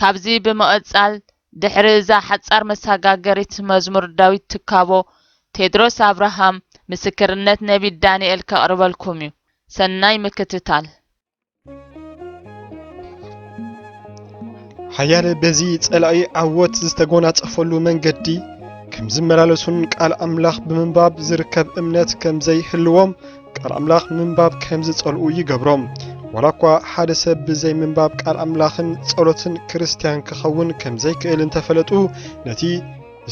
ካብዚ ብምቕጻል ድሕሪ እዛ ሓጻር መሳጋገሪት መዝሙር ዳዊት ትካቦ ቴድሮስ ኣብርሃም ምስክርነት ነቢይ ዳንኤል ከቕርበልኩም እዩ። ሰናይ ምክትታል። ሓያለ በዚ ጸላኢ ዓወት ዝተጎናጸፈሉ መንገዲ ከም ዝመላለሱን ቃል ኣምላኽ ብምንባብ ዝርከብ እምነት ከም ዘይህልዎም ቃል ኣምላኽ ምንባብ ከም ዝጸልኡ ይገብሮም። ዋላ እኳ ሓደ ሰብ ብዘይ ምንባብ ቃል ኣምላኽን ጸሎትን ክርስትያን ክኸውን ከም ዘይክእል እንተፈለጡ ነቲ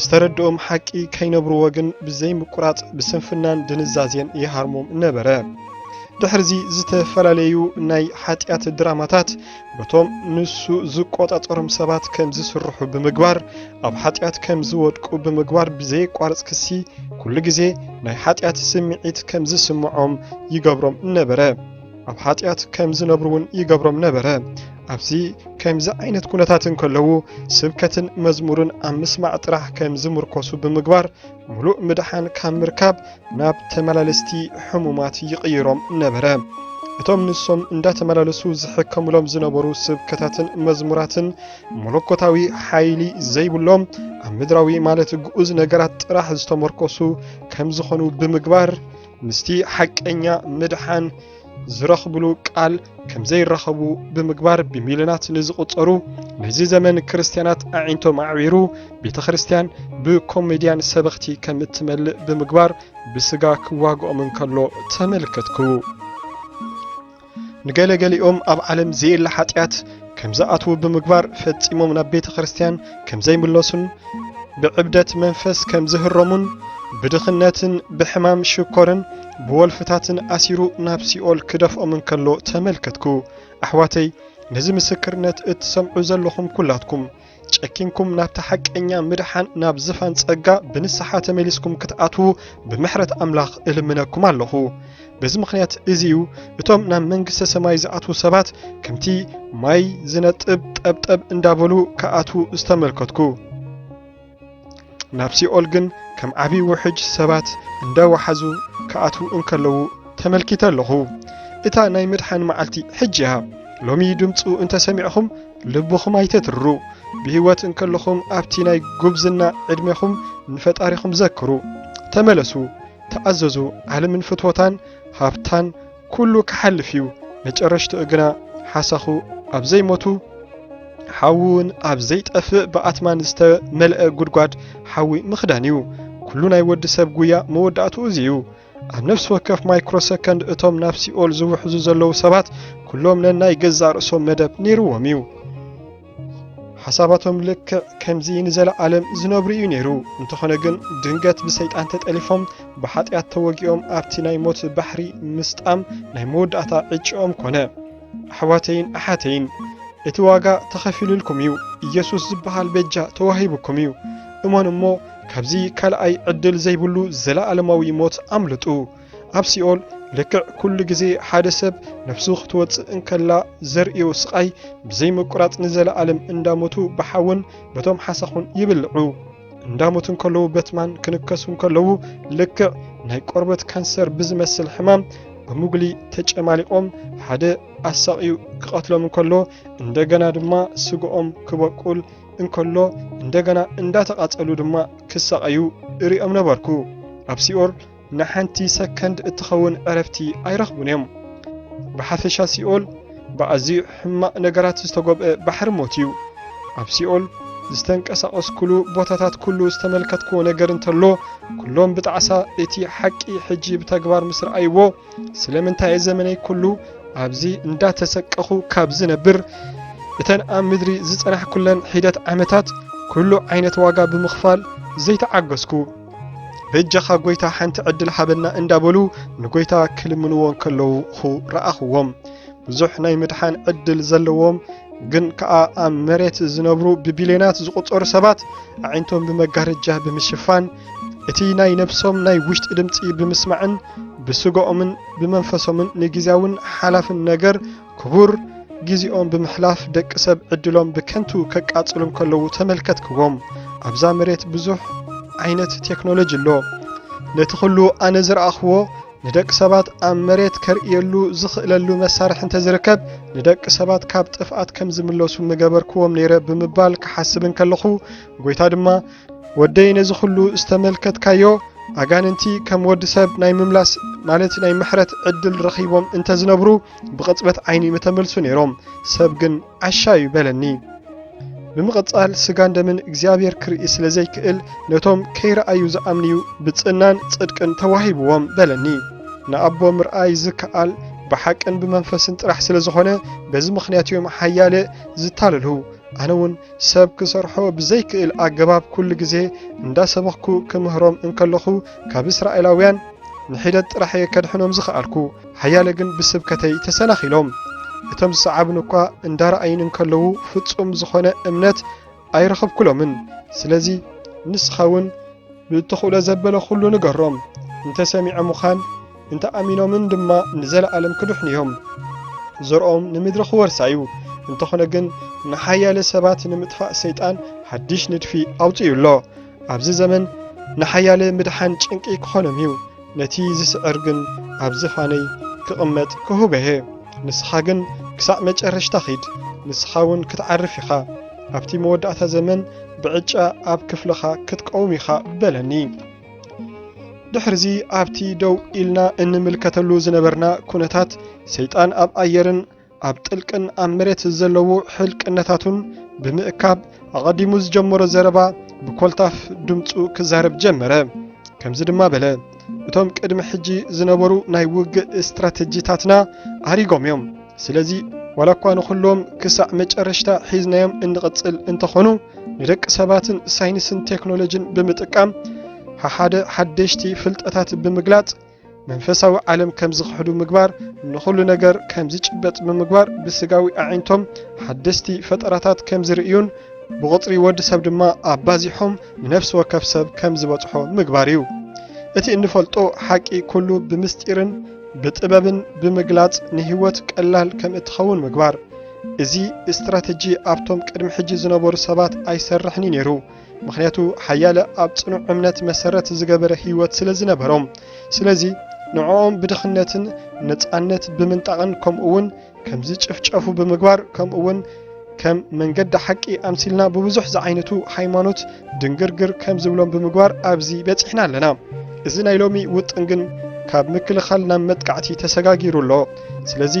ዝተረድኦም ሓቂ ከይነብርዎ ግን ብዘይምቁራጽ ብስንፍናን ድንዛዜን ይሃርሞም ነበረ። ድሕርዚ ዝተፈላለዩ ናይ ሓጢኣት ድራማታት በቶም ንሱ ዝቆጻጸሮም ሰባት ከም ዝስርሑ ብምግባር ኣብ ሓጢኣት ከም ዝወድቁ ብምግባር ብዘየቋርጽ ክሲ ኩሉ ግዜ ናይ ሓጢኣት ስምዒት ከም ዝስምዖም ይገብሮም ነበረ። ኣብ ሓጢኣት ከም ዝነብሩ እውን ይገብሮም ነበረ። ኣብዚ ከምዚ ዓይነት ኩነታት እንከለዉ ስብከትን መዝሙርን ኣብ ምስማዕ ጥራሕ ከም ዝምርኮሱ ብምግባር ምሉእ ምድሓን ካብ ምርካብ ናብ ተመላለስቲ ሕሙማት ይቕይሮም ነበረ። እቶም ንሶም እንዳተመላለሱ ዝሕከሙሎም ዝነበሩ ስብከታትን መዝሙራትን መለኮታዊ ሓይሊ ዘይብሎም ኣብ ምድራዊ ማለት ግኡዝ ነገራት ጥራሕ ዝተመርኮሱ ከም ዝኾኑ ብምግባር ምስቲ ሓቀኛ ምድሓን ዝረኽብሉ ቃል ከም ዘይራኸቡ ብምግባር ብሚልዮናት ንዝቑጸሩ ናይዚ ዘመን ክርስትያናት ኣዒንቶም ኣዕቢሩ ቤተ ክርስትያን ብኮሜድያን ሰበኽቲ ከም እትመልእ ብምግባር ብስጋ ክዋግኦም እንከሎ ተመልከትኩ። ንገለገሊኦም ኣብ ዓለም ዘየለ ሓጢኣት ከም ዝኣትዉ ብምግባር ፈጺሞም ናብ ቤተ ክርስቲያን ከም ዘይምለሱን ብዕብደት መንፈስ ከም ዝህረሙን ብድኽነትን ብሕማም ሽኮርን ብወልፍታትን ኣሲሩ ናብ ሲኦል ክደፍኦም እንከሎ ተመልከትኩ። ኣሕዋተይ ነዚ ምስክርነት እትሰምዑ ዘለኹም ኩላትኩም ጨኪንኩም ናብታ ሓቀኛ ምድሓን ናብ ዝፋን ጸጋ ብንስሓ ተመሊስኩም ክትኣትዉ ብምሕረት ኣምላኽ እልምነኩም ኣለኹ። በዚ ምኽንያት እዚ እዩ እቶም ናብ መንግስተ ሰማይ ዝኣትዉ ሰባት ከምቲ ማይ ዝነጥብ ጠብጠብ እንዳበሉ ክኣትዉ ዝተመልከትኩ። ናብ ሲኦል ግን ከም ዓብዪ ውሕጅ ሰባት እንዳወሓዙ ክኣትዉ እንከለዉ ተመልኪተ ኣለኹ። እታ ናይ ምድሓን መዓልቲ ሕጂ እያ። ሎሚ ድምፁ እንተሰሚዕኹም ልብኹም ኣይተትርሩ። ብህይወት እንከለኹም ኣብቲ ናይ ጉብዝና ዕድሜኹም ንፈጣሪኹም ዘክሩ። ተመለሱ፣ ተኣዘዙ፣ ዓለምን ፍትወታን ሃብታን ኩሉ ክሓልፍ እዩ መጨረሽትኡ ግና ሓሳኹ ኣብ ዘይሞቱ ሓዊውን ኣብ ዘይጠፍእ ብኣትማን ዝተመልአ ጉድጓድ ሓዊ ምኽዳን እዩ ኩሉ ናይ ወዲ ሰብ ጉያ መወዳእትኡ እዚ እዩ ኣብ ነፍሲ ወከፍ ማይክሮ ሰከንድ እቶም ናብ ሲኦል ዝውሕዙ ዘለዉ ሰባት ኩሎም ነናይ ገዛእ ርእሶም መደብ ነይርዎም እዩ። ሓሳባቶም ልክዕ ከምዚ ንዘለዓለም ዝነብሩ እዩ ነይሩ። እንተኾነ ግን ድንገት ብሰይጣን ተጠሊፎም ብሓጢኣት ተወጊኦም ኣብቲ ናይ ሞት ባሕሪ ምስጣም ናይ መወዳእታ ዕጭኦም ኮነ። ኣሕዋተይን ኣሓተይን እቲ ዋጋ ተኸፊሉልኩም እዩ። ኢየሱስ ዝበሃል በጃ ተዋሂቡኩም እዩ። እመኑ እሞ ካብዚ ካልኣይ ዕድል ዘይብሉ ዘለዓለማዊ ሞት ኣምልጡ። ኣብ ሲኦል ልክዕ ኩሉ ግዜ ሓደ ሰብ ነፍሱ ክትወፅእ እንከላ ዘርእዮ ስቓይ ብዘይ ምቁራፅ ንዘለኣለም እንዳሞቱ ብሓውን በቶም ሓሳኹን ይብልዑ። እንዳሞቱ እንከለዉ በትማን ክንከሱ እንከለዉ ልክዕ ናይ ቆርበት ካንሰር ብዝመስል ሕማም ብሙግሊ ተጨማሊቖም ሓደ ኣሳቕዩ ክቐትሎም እንከሎ እንደገና ድማ ስግኦም ክበቁል እንከሎ እንደገና እንዳተቓፀሉ ድማ ክሳቐዩ እሪኦም ነበርኩ ኣብ ሲኦል ንሓንቲ ሰከንድ እትኸውን ዕረፍቲ ኣይረኽቡን እዮም። ብሓፈሻ ሲኦል ብኣዝዩ ሕማቕ ነገራት ዝተጎብኣ ባሕሪ ሞት እዩ። ኣብ ሲኦል ዝተንቀሳቐስኩሉ ቦታታት ኩሉ ዝተመልከትክዎ ነገር እንተሎ ኩሎም ብጣዕሳ እቲ ሓቂ ሕጂ ብተግባር ምስ ረኣይዎ ስለምንታይ እየ ዘመነይ ኩሉ ኣብዚ እንዳተሰቀኹ ካብ ዝነብር እተን ኣብ ምድሪ ዝጸናሕኩለን ሒደት ዓመታት ኩሉ ዓይነት ዋጋ ብምኽፋል ዘይተዓገስኩ በጃኻ ጎይታ ሓንቲ ዕድል ሃበና እንዳበሉ ንጎይታ ክልምንዎ ከለዉ ረኣኽዎም። ብዙሕ ናይ ምድሓን ዕድል ዘለዎም ግን ከኣ ኣብ መሬት ዝነብሩ ብቢልዮናት ዝቑጸሩ ሰባት ኣዒንቶም ብመጋረጃ ብምሽፋን እቲ ናይ ነብሶም ናይ ውሽጢ ድምፂ ብምስማዕን ብስጋኦምን ብመንፈሶምን ንግዜያውን ሓላፍን ነገር ክቡር ግዜኦም ብምሕላፍ ደቂ ሰብ ዕድሎም ብከንቱ ከቃጽሉ እንከለዉ ተመልከትክዎም። ኣብዛ መሬት ብዙሕ ዓይነት ቴክኖሎጂ ኣሎ። ነቲ ኩሉ ኣነ ዝረኣኽዎ ንደቂ ሰባት ኣብ መሬት ከርእየሉ ዝኽእለሉ መሳርሒ እንተዝርከብ ንደቂ ሰባት ካብ ጥፍኣት ከም ዝምለሱ ምገበርክዎም ነይረ ብምባል ክሓስብ እንከለኹ ጎይታ ድማ ወደይ ነዚ ኩሉ ዝተመልከትካዮ ኣጋንንቲ ከም ወዲ ሰብ ናይ ምምላስ ማለት ናይ ምሕረት ዕድል ረኺቦም እንተዝነብሩ ብቕጽበት ዓይኒ ምተመልሱ ነይሮም፣ ሰብ ግን ዓሻ እዩ በለኒ። ብምቕጻል ስጋን ደምን እግዚኣብሔር ክርኢ ስለ ዘይክእል ነቶም ከይረኣዩ ዝኣምንዩ ብጽናን ጽድቅን ተዋሂብዎም በለኒ። ንኣቦ ምርኣይ ዝከኣል ብሓቅን ብመንፈስን ጥራሕ ስለ ዝኾነ በዚ ምኽንያት እዮም ሓያለ ዝታለሉ። ኣነ እውን ሰብ ክሰርሖ ብዘይክእል ኣገባብ ኩሉ ግዜ እንዳሰበኽኩ ክምህሮም እንከለኹ ካብ እስራኤላውያን ንሒደት ጥራሕ እየ ከድሕኖም ዝኸኣልኩ። ሓያለ ግን ብስብከተይ ተሰናኺሎም። እቶም ዝሰዓቡኒ እኳ እንዳረኣዩኒ እንከለዉ ፍጹም ዝኾነ እምነት ኣይረኸብኩሎምን። ስለዚ ንስኻ እውን ብእትኽእሎ ዘበለ ኩሉ ንገሮም። እንተ ሰሚዖምኻን እንተ ኣሚኖምን ድማ ንዘለኣለም ክድሕኑ እዮም። ዘርኦም ንምድሪ ክወርሳ እዩ። እንተኾነ ግን ንሓያለ ሰባት ንምጥፋእ ሰይጣን ሓድሽ ንድፊ ኣውጺኡ ኣሎ። ኣብዚ ዘመን ንሓያለ ምድሓን ጭንቂ ክኾኖም እዩ። ነቲ ዝስዕር ግን ኣብ ዝፋነይ ክቕመጥ ክሁብ'የ። ንስኻ ግን ክሳዕ መጨረሽታ ኺድ፣ ንስኻ'ውን ክትዓርፍ ኢኻ። ኣብቲ መወዳእታ ዘመን ብዕጫ ኣብ ክፍልኻ ክትቀውም ኢኻ በለኒ። ድሕርዚ ኣብቲ ደው ኢልና እንምልከተሉ ዝነበርና ኩነታት ሰይጣን ኣብ ኣየርን ኣብ ጥልቅን ኣብ መሬት ዘለዉ ሕልቅነታቱን ብምእካብ ኣቐዲሙ ዝጀመሮ ዘረባ ብኮልታፍ ድምፁ ክዛረብ ጀመረ። ከምዚ ድማ በለ፣ እቶም ቅድሚ ሕጂ ዝነበሩ ናይ ውግእ ስትራተጂታትና ኣሪጎም እዮም። ስለዚ ዋላ እኳ ንኹሎም ክሳዕ መጨረሽታ ሒዝናዮም እንቕጽል እንተኾኑ ንደቂ ሰባትን ሳይንስን ቴክኖሎጂን ብምጥቃም ሓደ ሓደሽቲ ፍልጠታት ብምግላጽ መንፈሳዊ ዓለም ከም ዝኽሕዱ ምግባር ንኹሉ ነገር ከም ዝጭበጥ ብምግባር ብስጋዊ ኣዒንቶም ሓደስቲ ፈጠራታት ከም ዝርእዩን ብቑጽሪ ወዲ ሰብ ድማ ኣባዚሖም ንነፍሲ ወከፍ ሰብ ከም ዝበጽሖ ምግባር እዩ። እቲ እንፈልጦ ሓቂ ኩሉ ብምስጢርን ብጥበብን ብምግላጽ ንህይወት ቀላል ከም እትኸውን ምግባር። እዚ ስትራተጂ ኣብቶም ቅድሚ ሕጂ ዝነበሩ ሰባት ኣይሰርሕን እዩ ነይሩ። ምኽንያቱ ሓያለ ኣብ ጽኑዕ እምነት መሰረት ዝገበረ ህይወት ስለ ዝነበሮም። ስለዚ ንዕኦም ብድኽነትን ነጻነት ብምንጣቕን ከምኡውን ከም ዝጭፍጨፉ ብምግባር ከምኡውን ከም መንገዲ ሓቂ ኣምሲልና ብብዙሕ ዝዓይነቱ ሃይማኖት ድንግርግር ከም ዝብሎም ብምግባር ኣብዚ በጺሕና ኣለና። እዚ ናይ ሎሚ ውጥን ግን ካብ ምክልኻል ናብ መጥቃዕቲ ተሰጋጊሩ ኣሎ። ስለዚ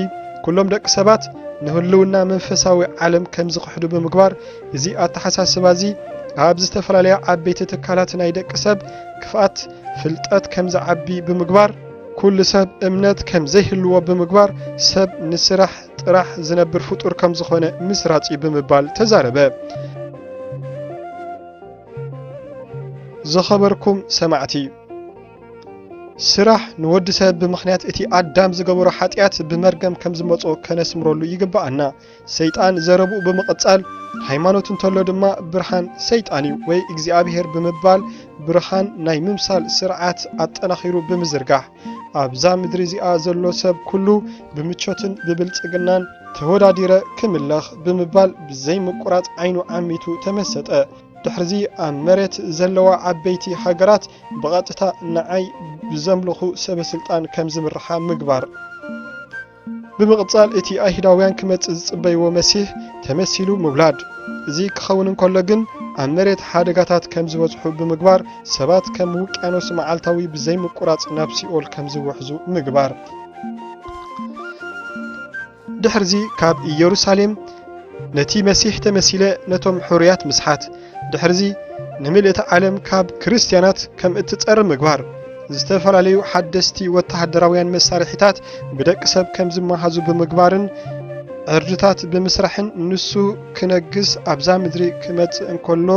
ኩሎም ደቂ ሰባት ንህልውና መንፈሳዊ ዓለም ከም ዝኽሕዱ ብምግባር እዚ ኣተሓሳስባ እዚ ኣብ ዝተፈላለያ ዓበይቲ ትካላት ናይ ደቂ ሰብ ክፍኣት ፍልጠት ከም ዝዓቢ ብምግባር፣ ኩሉ ሰብ እምነት ከም ዘይህልዎ ብምግባር ሰብ ንስራሕ ጥራሕ ዝነብር ፍጡር ከም ዝኾነ ምስራጽ እዩ ብምባል ተዛረበ። ዝኸበርኩም ሰማዕቲ ስራሕ ንወዲ ሰብ ብምኽንያት እቲ ኣዳም ዝገበሮ ሓጢኣት ብመርገም ከም ዝመጾ ከነስምረሉ ይግብኣና። ሰይጣን ዘረብኡ ብምቕጻል ሃይማኖት እንተሎ ድማ ብርሃን ሰይጣን እዩ ወይ እግዚኣብሔር ብምባል ብርሃን ናይ ምምሳል ስርዓት ኣጠናኺሩ ብምዝርጋሕ ኣብዛ ምድሪ እዚኣ ዘሎ ሰብ ኩሉ ብምቾትን ብብልጽግናን ተወዳዲረ ክምለኽ ብምባል ብዘይምቁራጽ ዓይኑ ዓሚቱ ተመሰጠ። ድሕርዚ ኣብ መሬት ዘለዋ ዓበይቲ ሃገራት ብቐጥታ ንዓይ ብዘምልኹ ሰበስልጣን ከም ዝምርሓ ምግባር። ብምቕጻል እቲ ኣይሁዳውያን ክመጽእ ዝጽበይዎ መሲህ ተመሲሉ ምውላድ። እዚ ክኸውን እንከሎ ግን ኣብ መሬት ሓደጋታት ከም ዝበዝሑ ብምግባር ሰባት ከም ውቅያኖስ መዓልታዊ ብዘይምቁራጽ ናብ ሲኦል ከም ዝውሕዙ ምግባር። ድሕርዚ ካብ ኢየሩሳሌም ነቲ መሲህ ተመሲለ ነቶም ሕሩያት ምስሓት። ድሕርዚ ንምልእቲ ዓለም ካብ ክርስትያናት ከም እትጸሪ ምግባር፣ ዝተፈላለዩ ሓደስቲ ወተሃደራውያን መሳርሒታት ብደቂ ሰብ ከም ዝመሃዙ ብምግባርን ዕርድታት ብምስራሕን ንሱ ክነግስ ኣብዛ ምድሪ ክመጽእ እንከሎ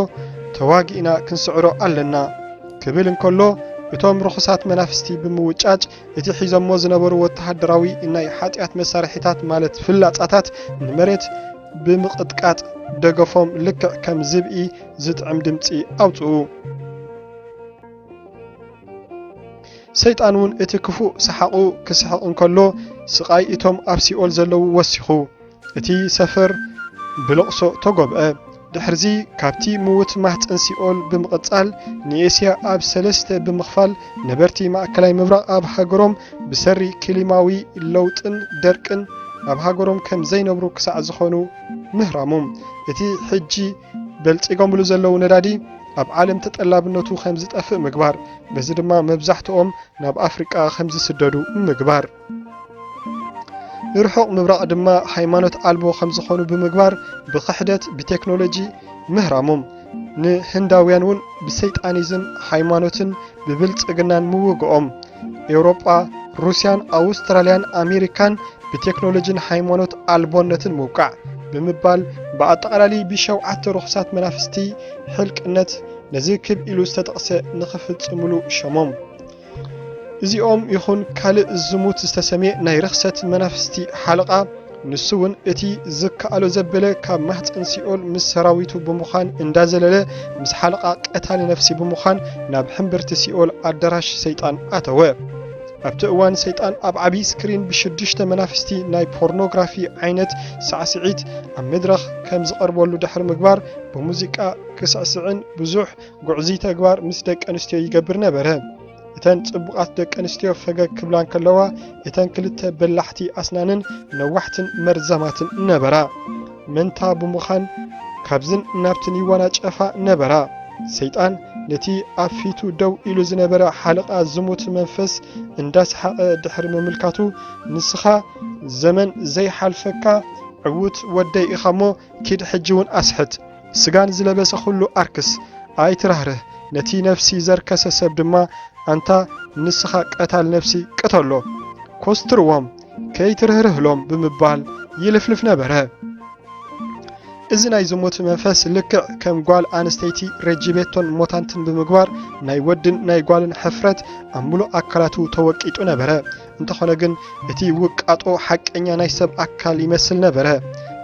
ተዋጊእና ክንስዕሮ ኣለና ክብል እንከሎ እቶም ርኹሳት መናፍስቲ ብምውጫጭ እቲ ሒዞሞ ዝነበሩ ወተሃደራዊ ናይ ሓጢኣት መሳርሒታት ማለት ፍላጻታት ንመሬት ብምቕጥቃጥ ደገፎም ልክዕ ከም ዝብኢ ዝጥዕም ድምጺ ኣውጽኡ። ሰይጣን እውን እቲ ክፉእ ሰሓቑ ክስሕቕ እንከሎ ስቓይ እቶም ኣብ ሲኦል ዘለዉ ወሲኹ። እቲ ሰፈር ብለቕሶ ተጎብዐ። ድሕርዚ ካብቲ ምዉት ማህጸን ሲኦል ብምቕጻል ንኤስያ ኣብ ሰለስተ ብምኽፋል ነበርቲ ማእከላይ ምብራቕ ኣብ ሃገሮም ብሰሪ ክሊማዊ ለውጥን ደርቅን ኣብ ሃገሮም ከም ዘይነብሩ ክሳዕ ዝኾኑ ምህራሙ፣ እቲ ሕጂ በልጺጎምሉ ዘለዉ ነዳዲ ኣብ ዓለም ተጠላብነቱ ከም ዝጠፍእ ምግባር፣ በዚ ድማ መብዛሕትኦም ናብ ኣፍሪቃ ከም ዝስደዱ ምግባር። ንርሑቕ ምብራቕ ድማ ሃይማኖት ኣልቦ ከም ዝኾኑ ብምግባር ብኽሕደት ብቴክኖሎጂ ምህራሞም ንህንዳውያን እውን ብሰይጣኒዝም ሃይማኖትን ብብልጽግናን ምውግኦም ኤውሮጳ ሩስያን ኣውስትራልያን ኣሜሪካን ብቴክኖሎጂን ሃይማኖት ኣልቦነትን ምውቃዕ ብምባል ብኣጠቓላሊ ብሸውዓተ ርኹሳት መናፍስቲ ሕልቅነት ነዚ ክብ ኢሉ ዝተጠቕሰ ንኽፍጽምሉ ሸሞም እዚኦም ይኹን ካልእ ዝሙት ዝተሰምየ ናይ ርኽሰት መናፍስቲ ሓለቓ ንሱ እውን እቲ ዝከኣሎ ዘበለ ካብ ማህፀን ሲኦል ምስ ሰራዊቱ ብምዃን እንዳዘለለ ምስ ሓለቓ ቀታሊ ነፍሲ ብምዃን ናብ ሕምብርቲ ሲኦል ኣዳራሽ ሰይጣን ኣተወ። ኣብቲ እዋን ሰይጣን ኣብ ዓብዪ ስክሪን ብሽዱሽተ መናፍስቲ ናይ ፖርኖግራፊ ዓይነት ሳዕስዒት ኣብ መድረኽ ከም ዝቐርበሉ ድሕሪ ምግባር ብሙዚቃ ክስዕስዕን ብዙሕ ጉዕዙይ ተግባር ምስ ደቂ ኣንስትዮ ይገብር ነበረ። እተን ጽቡቓት ደቂ ኣንስትዮ ፈገግ ክብላ እንከለዋ እተን ክልተ በላሕቲ ኣስናንን ነዋሕትን መርዛማትን ነበራ። መንታ ብምዃን ካብዝን ናብትን ይወናጨፋ ነበራ። ሰይጣን ነቲ ኣብ ፊቱ ደው ኢሉ ዝነበረ ሓለቓ ዝሙት መንፈስ እንዳሰሓቐ ድሕሪ ምምልካቱ ንስኻ ዘመን ዘይሓልፈካ ዕዉት ወደይ ኢኻ እሞ ኪድ ሕጂ እውን ኣስሕት ስጋን ዝለበሰ ዅሉ ኣርክስ፣ ኣይትራህርህ፣ ነቲ ነፍሲ ዘርከሰ ሰብ ድማ፣ ኣንታ ንስኻ ቀታል ነፍሲ፣ ቅተሎ፣ ኰስትርዎም፣ ከይትርህርህሎም ብምባል ይልፍልፍ ነበረ። እዚ ናይ ዝሙት መንፈስ ልክዕ ከም ጓል ኣንስተይቲ ረጂቤቶን ሞታንትን ብምግባር ናይ ወድን ናይ ጓልን ሕፍረት ኣብ ምሉእ ኣካላቱ ተወቂጡ ነበረ። እንተኾነ ግን እቲ ውቃጦ ሓቀኛ ናይ ሰብ ኣካል ይመስል ነበረ።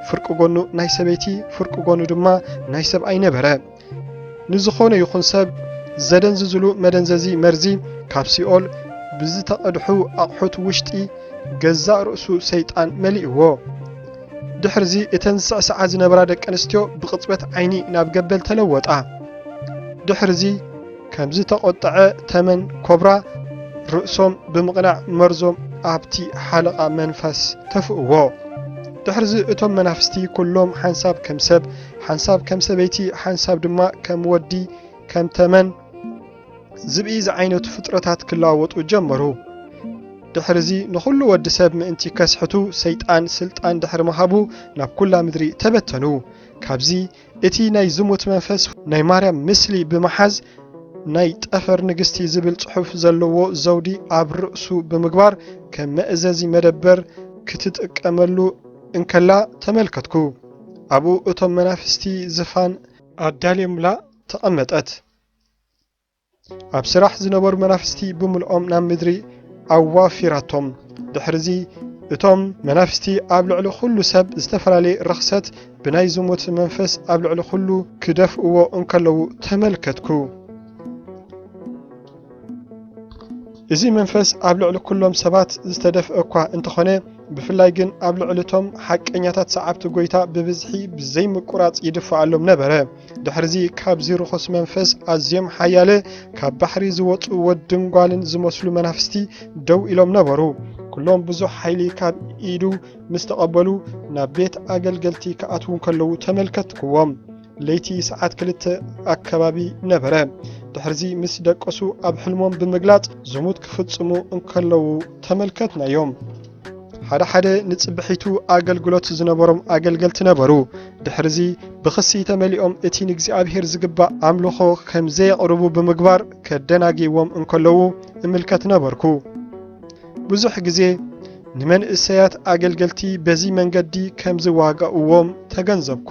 ፍርቂ ጎኑ ናይ ሰበይቲ፣ ፍርቂ ጎኑ ድማ ናይ ሰብኣይ ነበረ። ንዝኾነ ይኹን ሰብ ዘደንዝዝሉ መደንዘዚ መርዚ ካብ ሲኦል ብዝተቐድሑ ኣቕሑት ውሽጢ ገዛእ ርእሱ ሰይጣን መሊእዎ። ድሕርዚ እተን ዝስዕስዓ ዝነበራ ደቂ ኣንስትዮ ብቕጽበት ዓይኒ ናብ ገበል ተለወጣ። ድሕርዚ ከም ዝተቖጥዐ ተመን ኮብራ ርእሶም ብምቕናዕ መርዞም ኣብቲ ሓለቓ መንፈስ ተፍእዎ። ድሕርዚ እቶም መናፍስቲ ኩሎም ሓንሳብ ከም ሰብ፣ ሓንሳብ ከም ሰበይቲ፣ ሓንሳብ ድማ ከም ወዲ ከም ተመን ዝብኢ ዝዓይነቱ ፍጥረታት ክለዋወጡ ጀመሩ። ድሕርዚ ንኹሉ ወዲ ሰብ ምእንቲ ከስሕቱ ሰይጣን ስልጣን ድሕሪ ምሃቡ ናብ ኩላ ምድሪ ተበተኑ። ካብዚ እቲ ናይ ዝሙት መንፈስ ናይ ማርያም ምስሊ ብምሓዝ ናይ ጠፈር ንግስቲ ዝብል ጽሑፍ ዘለዎ ዘውዲ ኣብ ርእሱ ብምግባር ከም መእዘዚ መደበር ክትጥቀመሉ እንከላ ተመልከትኩ። ኣብኡ እቶም መናፍስቲ ዝፋን ኣዳልዮምላ ተቐመጠት። ኣብ ስራሕ ዝነበሩ መናፍስቲ ብምልኦም ናብ ምድሪ ኣዋፊራቶም። ድሕርዚ እቶም መናፍስቲ ኣብ ልዕሊ ኩሉ ሰብ ዝተፈላለየ ርኽሰት ብናይ ዝሙት መንፈስ ኣብ ልዕሊ ኩሉ ክደፍእዎ እንከለዉ ተመልከትኩ። እዚ መንፈስ ኣብ ልዕሊ ኩሎም ሰባት ዝተደፍአ እኳ እንተኾነ ብፍላይ ግን ኣብ ልዕሊ እቶም ሓቀኛታት ሰዓብቲ ጎይታ ብብዝሒ ብዘይምቁራጽ ይድፋኣሎም ነበረ። ድሕርዚ ካብዚ ርኹስ መንፈስ ኣዝዮም ሓያለ ካብ ባሕሪ ዝወጹ ወድን ጓልን ዝመስሉ መናፍስቲ ደው ኢሎም ነበሩ። ኩሎም ብዙሕ ሓይሊ ካብ ኢዱ ምስ ተቐበሉ ናብ ቤት ኣገልገልቲ ክኣትዉ እንከለዉ ተመልከትክዎም። ለይቲ ሰዓት ክልተ ኣከባቢ ነበረ። ድሕርዚ ምስ ደቀሱ ኣብ ሕልሞም ብምግላጽ ዝሙት ክፍጽሙ እንከለዉ ተመልከትናዮም። ሓደ ሓደ ንጽብሒቱ ኣገልግሎት ዝነበሮም ኣገልገልቲ ነበሩ። ድሕርዚ ብኽሲ ተመሊኦም እቲ ንእግዚኣብሔር ዝግባእ ኣምልኾ ከም ዘየቕርቡ ብምግባር ከደናግይዎም እንከለዉ እምልከት ነበርኩ። ብዙሕ ግዜ ንመንእሰያት ኣገልገልቲ በዚ መንገዲ ከም ዝዋጋእዎም ተገንዘብኩ።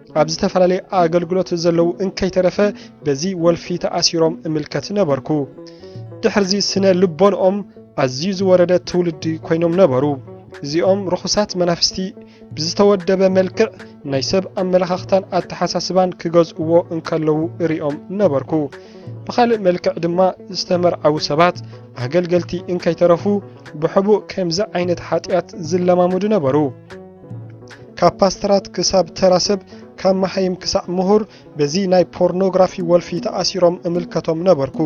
ኣብ ዝተፈላለየ ኣገልግሎት ዘለዉ እንከይተረፈ በዚ ወልፊ ተኣሲሮም እምልከት ነበርኩ። ድሕርዚ ስነ ልቦንኦም ኣዝዩ ዝወረደ ትውልዲ ኮይኖም ነበሩ። እዚኦም ርኹሳት መናፍስቲ ብዝተወደበ መልክዕ ናይ ሰብ ኣመለኻኽታን ኣተሓሳስባን ክገዝእዎ እንከለዉ እሪኦም ነበርኩ። ብኻልእ መልክዕ ድማ ዝተመርዓዉ ሰባት ኣገልገልቲ እንከይተረፉ ብሕቡእ ከምዚ ዓይነት ሓጢኣት ዝለማምዱ ነበሩ። ካብ ፓስተራት ክሳብ ተራ ሰብ ካብ መሃይም ክሳዕ ምሁር በዚ ናይ ፖርኖግራፊ ወልፊ ተኣሲሮም እምልከቶም ነበርኩ።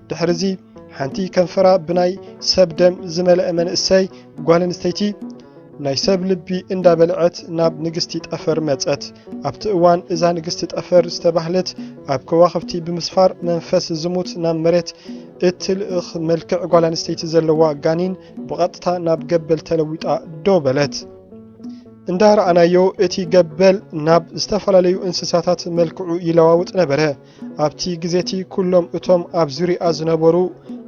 ድሕርዚ ሓንቲ ከንፈራ ብናይ ሰብ ደም ዝመልአ መንእሰይ ጓል ኣንስተይቲ ናይ ሰብ ልቢ እንዳበልዐት ናብ ንግስቲ ጠፈር መጸት። ኣብቲ እዋን እዛ ንግስቲ ጠፈር ዝተባህለት ኣብ ከዋኽብቲ ብምስፋር መንፈስ ዝሙት ናብ መሬት እትልእኽ መልክዕ ጓል ኣንስተይቲ ዘለዋ ጋኒን ብቐጥታ ናብ ገበል ተለዊጣ ደው በለት። እንዳ ረኣናዮ እቲ ገበል ናብ ዝተፈላለዩ እንስሳታት መልክዑ ይለዋውጥ ነበረ። ኣብቲ ግዜ እቲ ኩሎም እቶም ኣብ ዙርያኣ ዝነበሩ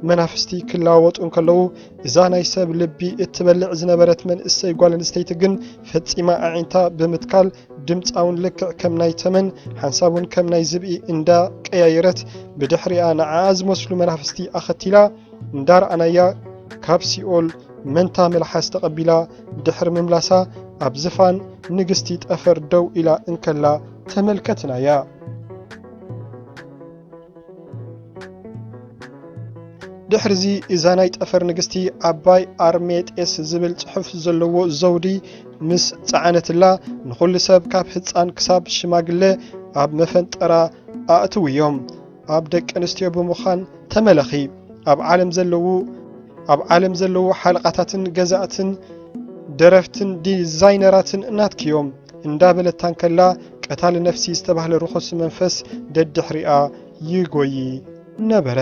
መናፍስቲ ክለዋወጡ እንከለዉ እዛ ናይ ሰብ ልቢ እትበልዕ ዝነበረት መንእሰይ ጓል ኣንስተይቲ ግን ፈጺማ ኣዒንታ ብምትካል ድምጻውን ልክዕ ከም ናይ ተመን ሓንሳቡን ከም ናይ ዝብኢ እንዳ ቀያየረት ብድሕሪኣ ንዓኣ ዝመስሉ መናፍስቲ ኣኸቲላ እንዳርኣናያ ካብ ሲኦል መንታ መልሓስ ተቐቢላ ድሕሪ ምምላሳ ኣብ ዝፋን ንግስቲ ጠፈር ደው ኢላ እንከላ ተመልከትናያ። ድሕርዚ እዛ ናይ ጠፈር ንግስቲ ዓባይ ኣርሜጤስ ዝብል ጽሑፍ ዘለዎ ዘውዲ ምስ ጸዓነትላ ንኹሉ ሰብ ካብ ህፃን ክሳብ ሽማግለ ኣብ መፈንጠራ ኣእትውዮም ኣብ ደቂ ኣንስትዮ ብምዃን ተመለኺ ኣብ ዓለም ዘለዉ ኣብ ዓለም ዘለዉ ሓለቓታትን ገዛእትን ደረፍትን ዲዛይነራትን ናትክዮም እንዳበለታ እንከላ ቀታሊ ነፍሲ ዝተባህለ ርኹስ መንፈስ ደድሕሪኣ ይጎዪ ነበረ።